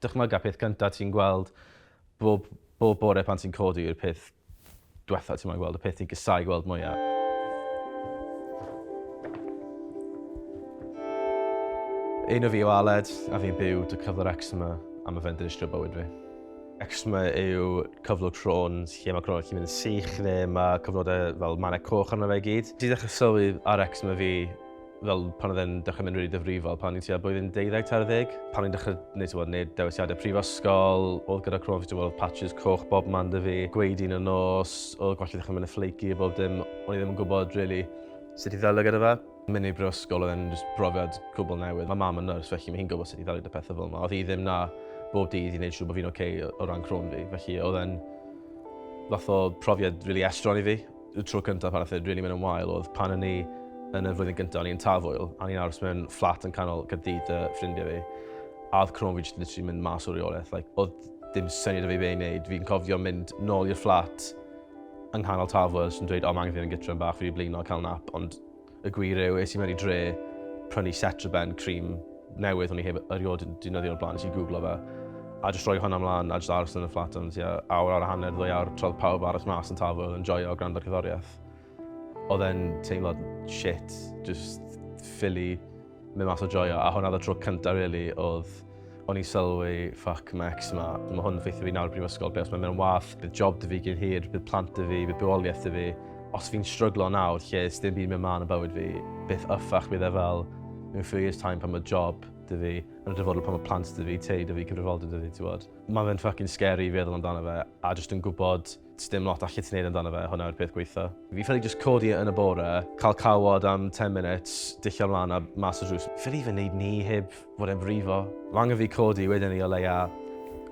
Dychmyga peth cynta ti'n gweld bob bob bore pan ti'n codi yw'r peth dwetha ti moyn gweld, y peth ti'n casau gweld mwyaf. Un o fi yw Aled, a fi'n byw dy cyflwr eczema, a mae fe'n dinistrio bywyd fi. Eczema yw cyflwr cro'n lle mae cro'n chi'n mynd yn sych neu mae cyflodau fel manau coch arno fe i gyd. Di ddechrau sylwi ar eczema fi fel pan oedd e'n dechrau mynd rili really difrifol, pan ni'n tua blwyddyn 12 ta'r ddeg. Pan ni'n dechrau gwneud tywod, neud dewisiadau prifysgol, oedd gyda Cron Festival oedd patches coch bob man dy fi, gweud un o nos, oedd gwallt i ddechrau mynd y flaky a bob dim, o'n i ddim yn gwybod really sut i ddelio gyda fe. Mynd i brifysgol oedd e'n brofiad cwbl newydd. Mae mam yn nyrs, felly mae hi'n gwybod sut i ddelio gyda pethau fel yma. Oedd hi ddim na bob dydd i wneud siŵr bod fi'n oce okay o ran Cron fi, felly oedd e'n fath o profiad really estron i fi. Y tro cyntaf pan nath e rili mynd yn wael oedd pan o'n i yn y flwyddyn gynta, o'n i yn Tafwyl, a o'n i'n aros mewn fflat yn canol Caerdydd 'da ffrindie fi, a oedd croen fi jyst literally mynd mas o reolaeth, like oedd dim syniad 'da fi be' i neud. Fi'n cofio mynd nôl i'r fflat yng nghanol Tafwyl jyst yn dweud o ma' angen fi fyn' gytre am bach, fi 'di blino, ca'l nap, ond Y gwir yw, es i mewn i dre prynu Cetraben, cream newydd o'n i heb erioed yn dynyddio o'r blaen, nes i googlo fe. A jyst rhoi hwnna mlaen a jyst aros yn y fflat am tua awr, awr a hanner, ddwy awr, trodd pawb aros mas yn tafwyl yn joio o gwrando'r cyddoriaeth. Oedd e'n teimlad shit, jyst ffili. Mynd mas a joio, a hwnna oedd y tro cyntaf really oedd o'n i'n sylwi, fuck, mae ex yma, mae hwn yn ffeithio fi nawr i brifysgol, be os mae'n mynd yn wath, bydd job dy fi gyn hir, bydd plant dy fi, bydd bywoliaeth dy fi. Os fi'n stryglo nawr, lle ys dim byd mynd mlaen yn bywyd fi, beth yffach bydd e fel mewn few years time pan mae job dy fi, yn y dyfodol pan mae plant dy fi, tei dy fi, cyfrifoldeb dy fi, ti'n bod. Mae fe'n fucking scary i feddwl amdano fe, a jyst yn gwybod Sdim lot allet ti wneud amdano fe, hwnna yw'r peth gwaetha. Fi ffili jyst codi yn y bore, cael cawod am 10 minutes, dillio ymlaen a mas y drws. Ffili fe wneud ni heb fod e'n brifo. Mae angen fi codi wedyn ni o leia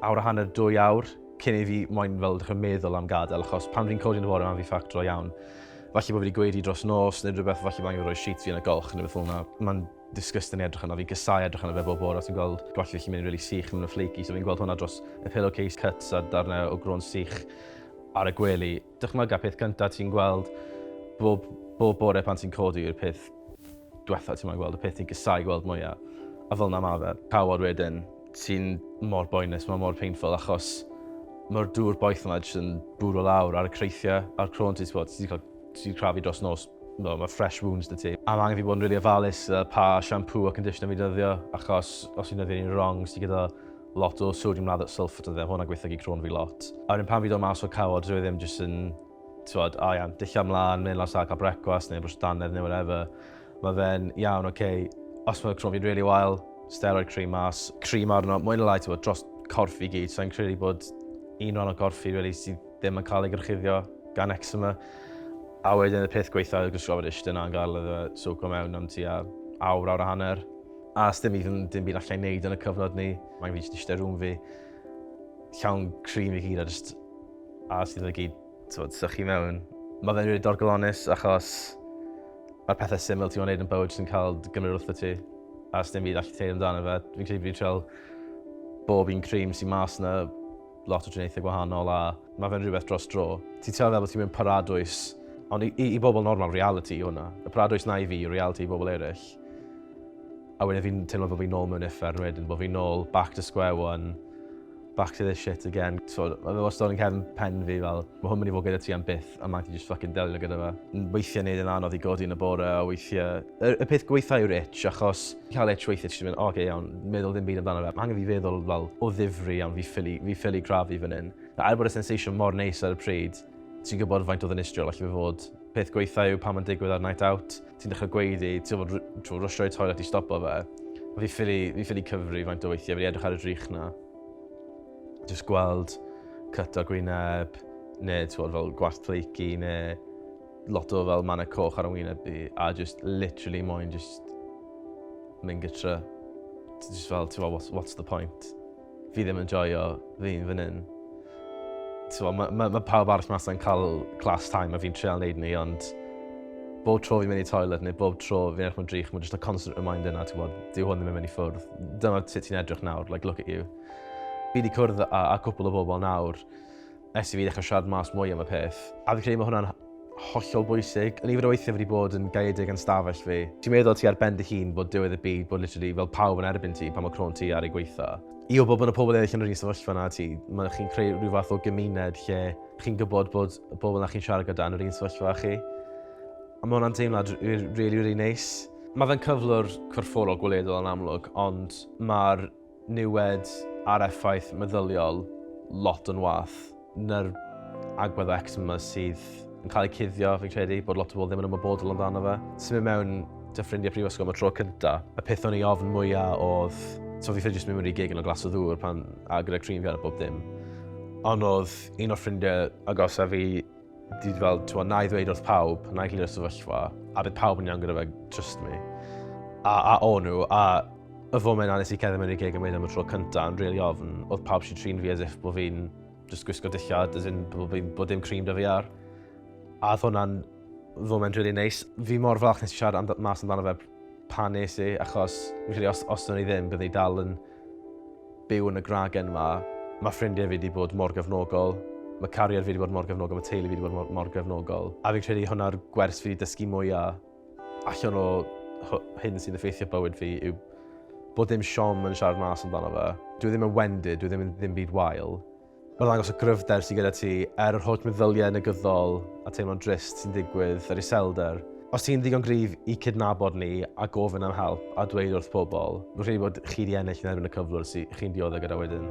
awr a hanner, dwy awr, cyn i fi moyn fel dechrau meddwl am gadael, achos pan fi'n codi yn y bore mae'n fi ffactro iawn. Falle bod fi wedi gweud i dros nos neu rhywbeth, falle bod angen fi roi sheets fi yn y golch neu beth fel 'na. Mae'n disgusting i edrych arno. Fi'n casau edrych arno fe bob bore os fi'n gweld gwallt fi'n mynd yn really sych, yn mynd yn flaky, so fi'n gweld hwnna dros y pillowcase cuts a darnau o gro'n sych ar y gwely. Dychmyga peth cyntaf ti'n gweld bob, bob bore pan ti'n codi yw'r peth diwetha ti'n gweld, y peth ti'n casau gweld mwyaf. A fel na ma fe. Cawod wedyn, ti'n mor boenus, mae mor painful achos mae'r dŵr boeth yma jyst yn bwrw lawr ar y creithiau a'r cro'n ti'n spod, ti'n cael Ti wedi crafu dros nos, no, mae fresh wounds dy ti. A mae angen fi bod yn really ofalus uh, pa shampoo a conditioner fi dyddio, achos os fi'n dyddio ni'n wrong, sy'n gyda lot o sodium lather sulfate yn dde, hwnna'n gweithio i crôn fi lot. A wedyn pan fi dod mas o'r cawod, dwi e ddim jyst yn, tywod, a iawn, dillio mlaen, mynd lan sal cael brecwast neu brwys dannedd neu whatever. Mae fe'n iawn, oce, okay, os mae crôn fi'n really wael, steroid cream mas, cream arno, mwyn y lai, tywod, dros corff i gyd, so i'n credu bod un rhan o gorff fi really sydd ddim yn cael ei gorchuddio gan eczema, a wedyn y peth gweitha yw'r gwisgo fod eistedd yna yn gael iddo fe swco mewn am tua awr, awr a hanner. A os dim even dim byd allai wneud yn y cyfnod ni, mae'n fi jyst eistedd rhwng fi, llawn cream i gyd a jyst a os iddo fe gyd tywed, sychu mewn. Mae fe'n rili dorgolonus achos mae'r pethau syml ti'n gwneud yn bywyd sy'n cael gymryd wrth y ti. A os dim byd allai teud amdano fe, fi'n credu fi'n treol bob un cream sy'n mas yna lot o triniaethau gwahanol a mae fe'n rhywbeth dros dro. Ti'n teimlo fel bod ti'n mynd paradwys, ond i, i, i bobl normal, reality yw hwnna. Y paradwys na i fi, reality i bobl eraill. A wedyn fi'n teimlo bod fi'n nôl mewn effern wedyn, bod fi'n nôl back to square one, back to this shit again. So, mae fe wastad yn cefn pen fi fel, mae hwn mynd i fod gyda ti am byth, a mae ti just fucking delio gyda fe. Weithiau neud yn anodd i godi yn y bore, a weithiau... Y, y peth gweitha yw'r itch, achos cael e trwytho, ti jyst yn mynd, oce, iawn, meddwl ddim byd amdano fe. Mae angen fi feddwl fel o ddifri iawn, fi ffili, fi ffili grafu fan hyn. A er bod y sensation mor neis ar y pryd, ti'n gwybod faint o ddinistriol allu fe fod. Peth gweitha yw pan mae'n digwydd ar night out, ti'n dechrau gweiddi, ti'n fod rwysio i toilet i stopo fe. Fi ffili, fi ffili cyfri faint o weithiau, fi edrych ar y drych na. Just gweld cyt o gwyneb, neu ti'n fod fel gwasg pleici, neu Lot o fel mannau coch ar ymwyneb i, a just literally moyn just mynd gytra. Just fel, ti'n fel, what's, what's the point? Fi ddim yn joio, fi'n fan hyn. Mae ma, ma, ma pawb arall mas yn cael class time a fi'n treol wneud ni, ond bob tro fi'n mynd i toilet neu bob tro fi'n edrych mewn drych, mae'n just a constant reminder na, ti'n bod, dyw hwn ddim yn mynd i ffwrdd. Dyma sut ti'n edrych nawr, like, look at you. Fi wedi cwrdd â, â cwpl o bobl nawr, Ers i fi ddechrau siarad mas mwy am y peth. A fi'n credu mae hwnna'n hollol bwysig. Yn nifer o weithiau fi wedi bod yn gaeedig yn stafell fi. Ti'n meddwl ti ar ben dy hun bod diwedd y byd, bod literally fel pawb yn erbyn ti pan mae crôn ti ar ei gwaetha. I wybod bod y pobl eraill yn yr un sefyllfa na ti, mae chi'n creu rhyw fath o gymuned lle chi'n gwybod bod y bobl na chi'n siarad gyda yn yr un sefyllfa â chi. A mae hwnna'n deimlad really, really neis. Mae fe'n cyflwr corfforol gweledol yn amlwg, ond mae'r niwed a'r effaith meddyliol lot yn wath na'r agwedd o eczema sydd yn cael ei cuddio, fi'n credu, bod lot o bobl ddim yn ymwybodol amdano fe. Symud mewn dy ffrindiau prifysgol am y tro cynta, y peth o'n i ofn mwyaf oedd, so fi ffedio jyst mynd mewn i gig yn o glas o ddŵr pan, a gyda cream fi ar a bob dim. Ond oedd un o'r ffrindiau agosaf fi Dwi wedi fel, ti'n na i ddweud wrth pawb, na i glirio'r sefyllfa, a bydd pawb yn iawn gyda fe, trust me. A, a o nhw, a y foment a nes i cedda mewn i'r gig yn mynd am y tro cyntaf yn really ofn, oedd pawb sy'n trin fi as if bod fi'n just gwisgo dillad, as in bod, bod dim cream da fi ar. A oedd hwnna'n foment really neis. Fi mor falch nes i siarad am, mas amdano fe pan nes i, achos fi'n credu os, os o'n i ddim, byddwn i dal yn byw yn y gragen 'ma. Mae ffrindiau fi 'di bod mor gefnogol. Mae cariad fi 'di bod mor gefnogol, mae teulu fi 'di bod mor, mor gefnogol. A fi'n credu hwnna'r gwers fi 'di dysgu mwya allan o hyn sy'n effeithio bywyd fi yw bod dim siom yn siarad mas amdano fe. Dwi ddim yn wendid, dwi ddim yn ddim byd wael. Mae'n ddangos y gryfder sydd gyda ti, er yr holl meddyliau negyddol a teimlo'n drist sy'n digwydd yr iselder. Os ti'n ddigon gryf i cydnabod ni a gofyn am help a dweud wrth pobl, rwy'n credu bod chi wedi ennill yn erbyn y cyflwr sydd chi'n dioddef gyda wedyn.